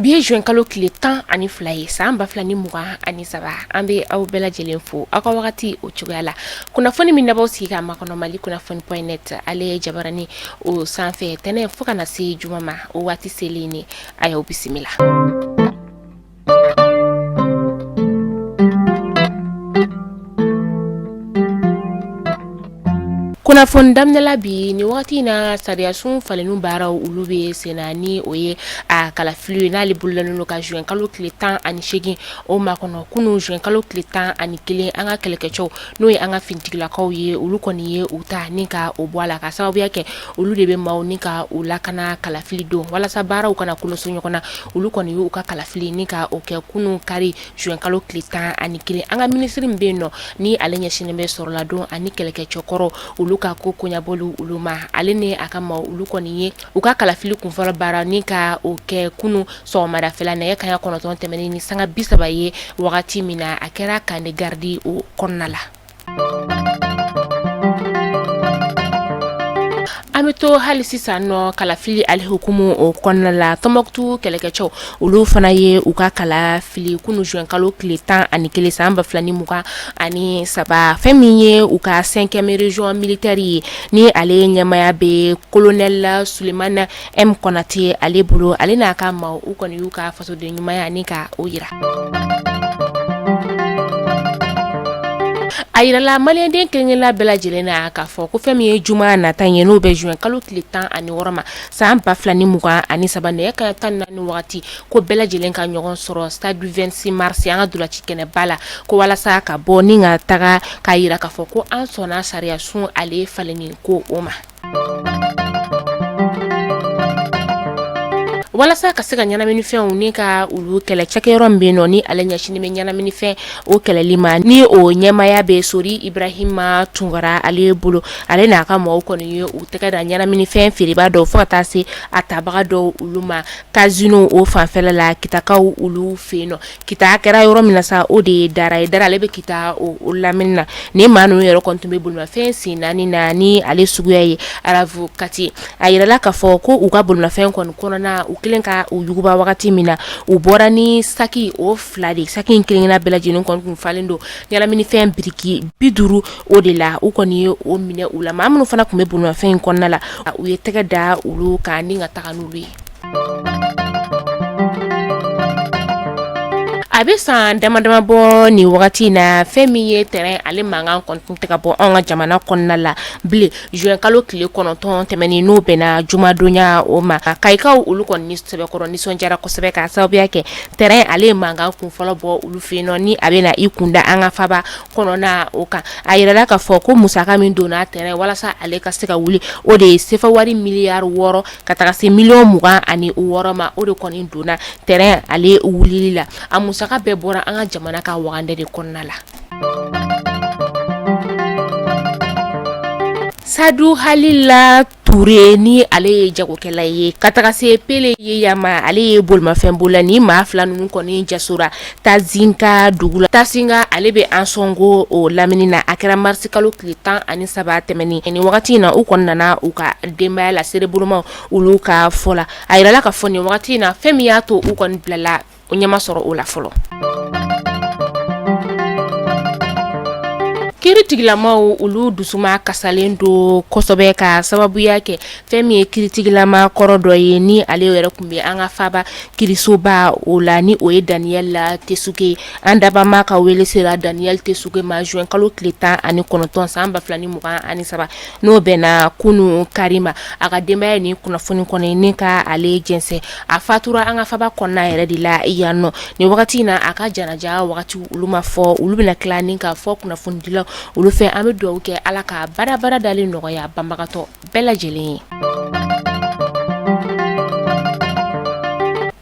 Bi ye zuwɛn kalo tile tan ani fila ye san ba fila ni mugan ani saba an bɛ aw bɛɛ lajɛlen fo aw ka wagati o cogoya la kunnafoni min n'aw b'aw sigi k'a makɔnɔ mali kunnafoni point net ale ye jabarani o sanfɛ tɛnɛn fo ka na se juma ma o waati selen de a y'aw bisimila kunnafoni daminɛla bi nin waati in na sariyasun falenni baaraw olu bɛ senna ni o ye a kalafili ye n'ale bolodalen don ka zuwɛn kalo tile tan ani segin o makɔnɔ kunun zuwɛn kalo tile tan ani kelen an ka kɛlɛkɛcɛw n'o ye an ka finitigilakaw ye olu kɔni ye u ta ni ka o bɔ a la k'a sababuya kɛ olu de bɛ maaw ni ka u lakana kalafili don walasa baaraw kana kolonso ɲɔgɔn na olu kɔni y'u ka kalafili ni ka o kɛ kunun kari zuwɛnkalo tile tan ani kelen an ka minisiri min bɛ yen nɔ ni ale ɲɛsinnen bɛ sɔrɔladon ani kɛlɛkɛcɛkɔrɔ olu ka ko koɲabɔ olu ma ale ni a ka maa olu kɔni ye u ka kalafili kunfɔlɔ baara ni ka o kɛ kunun sɔgɔmadafɛla nɛgɛ kaɲɛ kɔnɔntɔn tɛmɛnnen ni sanga bi saba ye wagati min na a kɛra kan de garidi o kɔnɔna la an bɛ to hali sisan nɔ kalafili ale hukumu o kɔnɔna la Tɔnbukutu kɛlɛkɛcɛw olu fana ye u ka kalafili kunun zuwɛnkalo tile tan ani kelen san ba 2 ni mugan ani saba fɛn min ye u ka cinquième région militaire ye ni ale ɲɛmaya bɛ kolonɛli Sulemana M Konate ale bolo ale n'a ka maaw u kɔni y'u ka fasoden ɲumanya ni ka o jira a jirala maliyɛnden kelen kelenna bɛɛ lajɛlen na k'a fɔ ko fɛn min ye juma nata ye n'o bɛ zuwɛn kalo tile tan ani wɔɔrɔ ma san ba 2 ni mugan ani saba nɛgɛ kaɲɛ tan ni naani waati ko bɛɛ lajɛlen ka ɲɔgɔn sɔrɔ stade du 26 mars an ka ntolaci kɛnɛba la ko walasa ka bɔ ni ka taga k'a jira k'a fɔ ko an sɔnna sariya sun ale falenni ko o ma walasa ka se ka ɲɛnaminifɛnw ni ka olu kɛlɛ cakɛyɔrɔ min bɛ nɔ ni ale ɲɛsinnen bɛ ɲɛnaminifɛn o kɛlɛli ma ni o ɲɛmaya bɛ sori ibrahima tunkara ale bolo ale n'a ka mɔgɔw kɔni ye u tɛgɛ da ɲɛnaminifɛn feerebaa dɔw fo ka taa se a tabaga dɔw olu ma Kasino o fanfɛ la kitakaw olu fɛ yen nɔ Kita kɛra yɔrɔ min na sa o de ye Dara ye Dara ale bɛ Kita o lamini na ni maa ninnu yɛrɛ kɔni tun bɛ bolimafɛn sen naani na ni ale suguya ye RAV4 ye a yirala k'a fɔ ko u ka bolimafɛn kɔni kɔnɔna u kɛlen ka u yuguba wagati min na u bɔra ni saki o fila de saki in kelenna bɛɛ lajɛlen kɔni tun falen don ɲɛnaminifɛn biriki bi duuru o de la u kɔni ye o minɛ u la maa minnu fana tun bɛ bolomafɛn in kɔnɔna la u ye tɛgɛ da olu kan ni ka taga n'olu ye a bɛ san dama dama bɔ nin wagati in na fɛn min ye tɛrɛn ale mankan kɔni tɛ ka bɔ an ka jamana kɔnɔna la bilen zuwɛn kalo tile kɔnɔntɔn tɛmɛnen n'o bɛnna jumadonya o ma kayikaw olu kɔni sɛbɛkɔrɔ nisɔndiyara kosɛbɛ ka sababuya kɛ tɛrɛn ale ye mankan kun fɔlɔ bɔ olu fɛ yen nɔ ni a bɛ na i kunda an ka faba kɔnɔna o kan a yirala ka fɔ ko musaka min donna tɛrɛn walasa ale ka se ka wuli o de ye sefa wari miliyari wɔɔrɔ ka taga se miliyɔn mugan ani wɔɔrɔ ma o de kɔni donna tɛrɛn ale wulili la a musaka bɛɛ bɔra an ka jamana ka wagande de kɔnɔna la sadu halila ture ni ale ye jagokɛla ye ka taga se pele yeya ma ale ye bolomafɛn bolila ni maa fila ninnu kɔni jasora tasinka dugu la tasinka ale bɛ ansɔngo o lamini na a kɛra marisi kalo tile tan ani saba tɛmɛnen ni wagati in na u kɔni nana u ka denbaya la sereboloma olu ka fɔ la a jirala ka fɔ nin wagati in na fɛn min y'a to u kɔni bilala o ɲɛ ma sɔrɔ o la fɔlɔ kiritigilamaw olu dusumakasilen don kosɛbɛ ka sababuya kɛ fɛn min ye kiritigilama kɔrɔ dɔ ye ni ale yɛrɛ tun bɛ an ka faba kirisoba o la ni o ye daniyɛl a tɛsuge an dabama ka wele sera daniyɛl tɛsuge ma zuwɛn kalo tile tan ani kɔnɔntɔn san ba fila ni mugan ani saba n'o bɛnna kunun kari ma a ka denbaya ye ni kunnafoni kɔni ni ka ale jɛnsɛn a fatura an ka faba kɔnɔna yɛrɛ de la yan nɔ ni wagati in na a ka janaja wagati olu ma fɔ olu bɛna tila ni ka fɔ kunnafonidilaw olu fɛ an bɛ dugawu kɛ ala ka bada bada dalen nɔgɔya banbagatɔ bɛɛ lajɛlen ye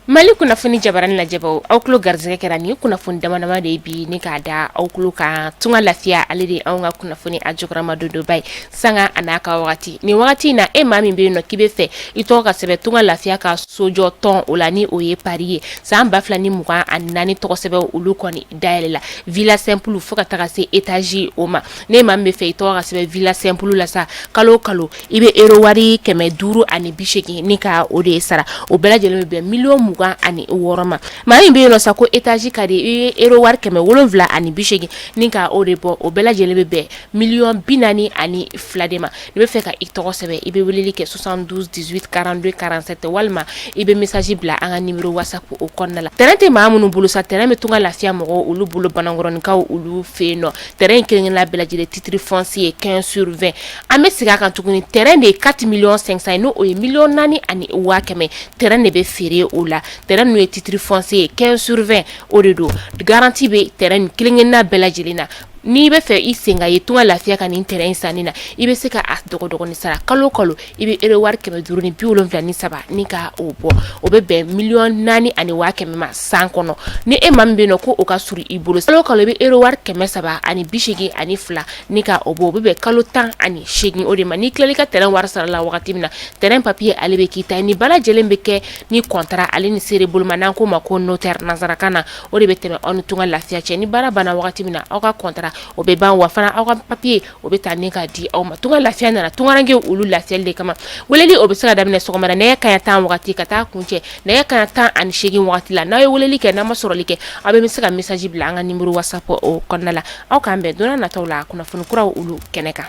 mali kunnafoni jabaranin lajɛbaw aw tulo garisɛgɛ kɛra ni kunnafoni dama dama de bi ni k'a da aw tulo kan tunga lafiya ale de an ka kunnafoni a jukɔrɔmadondonba ye sanga a n'a ka waati ni waati in na e maa min bɛ yen nɔ k'i bɛ fɛ i tɔgɔ ka sɛbɛn tunga lafiya ka sojɔ tɔn o la ni o ye pari ye san ba fila ni mugan ani naani tɔgɔ sɛbɛn olu kɔni dayɛlɛ la vila sɛnpulu fo ka taga se etazi o ma n'e maa min bɛ fɛ i tɔgɔ ka sɛbɛn vila sɛnpulu la sa kalo kalo I bɛ ero wari kɛmɛ duuru ani bi segin ni ka o de sara o bɛɛ lajɛlen bɛ bɛn miliyɔn mugan ani wɔɔrɔ ma maa min bɛ yen nɔ sa ko etazi ka di i ye ero wari kɛmɛ wolonwula ani bi segin ni ka o de bɔ o bɛɛ lajɛlen bɛ bɛn miliyɔn bi naani ani fila de ma n'i bɛ fɛ ka i tɔgɔ sɛbɛn i bɛ weleli kɛ soixante-douze dix-huit quarante-deux quarante-sept walima i bɛ mesazi bila an ka nimero watisapu o kɔnɔna la tɛrɛn tɛ maa minnu bolo sa tɛrɛn bɛ tunga lafiya mɔgɔ olu bolo banankɔrɔninkaw olu fɛ yen nɔ tɛ in kelen la bɛɛlɛ titiri fsi ye kɛ surfɛ an bɛ segin a kan tuguni t de ye kati mi san n' o ye miy naani ani waa kɛmɛ t de bɛ feere o la t n'o ye titiri fɔsi ye kɛ surfɛ o de don garanti bɛ t ni kelen-kelenina bɛɛ lajɛlen na n'i bɛ fɛ i sen ka ye tɔgɔ lafiya ka nin t in sanni na i bɛ se ka a dɔgɔn sara kalo kɔnɔ i bɛ euro wari kɛmɛ duuru ni bi wolonwula ni saba ni ka o bɔ o bɛ bɛn miliyɔn naani ani waa kɛmɛ ma san kɔnɔ ni e maa min b'a fɔ ko o ka surun i bolo sa kalo i bɛ euro wari kɛmɛ saba ani bi seegin ani fila ni ka o bɔ o bɛ bɛn kalo tan ani seegin o de ma n'i tilala i ka terrain wari sara la wagati min na terrain papiye ale bɛ k'i ta ye nin bɛɛ lajɛlen bɛ kɛ ni kɔntara ale ni seere bolo ma n'an k'o ma ko notaire nanzarakan na o de bɛ tɛmɛ aw ni tunga lafiya cɛ ni baara banna wagati min na aw ka kɔntara o bɛ ban wa fana aw ka papiye o bɛ taa ne k'a di aw ma tunga lafiya nana tungaranke olu lafiyali de kama weleli o bɛ se ka daminɛ sɔgɔmada nɛgɛ kanɲɛ tan waati ka taa kuncɛ nɛgɛ kanɲɛ tan ani seegin waati la n'a ye weleli kɛ n'a ma sɔrɔli kɛ aw bɛɛ bɛ se ka message bila an ka numéro WhatsApp o kɔnɔna la aw k'an bɛn don nataw la kunnafoni kuraw olu kɛnɛ kan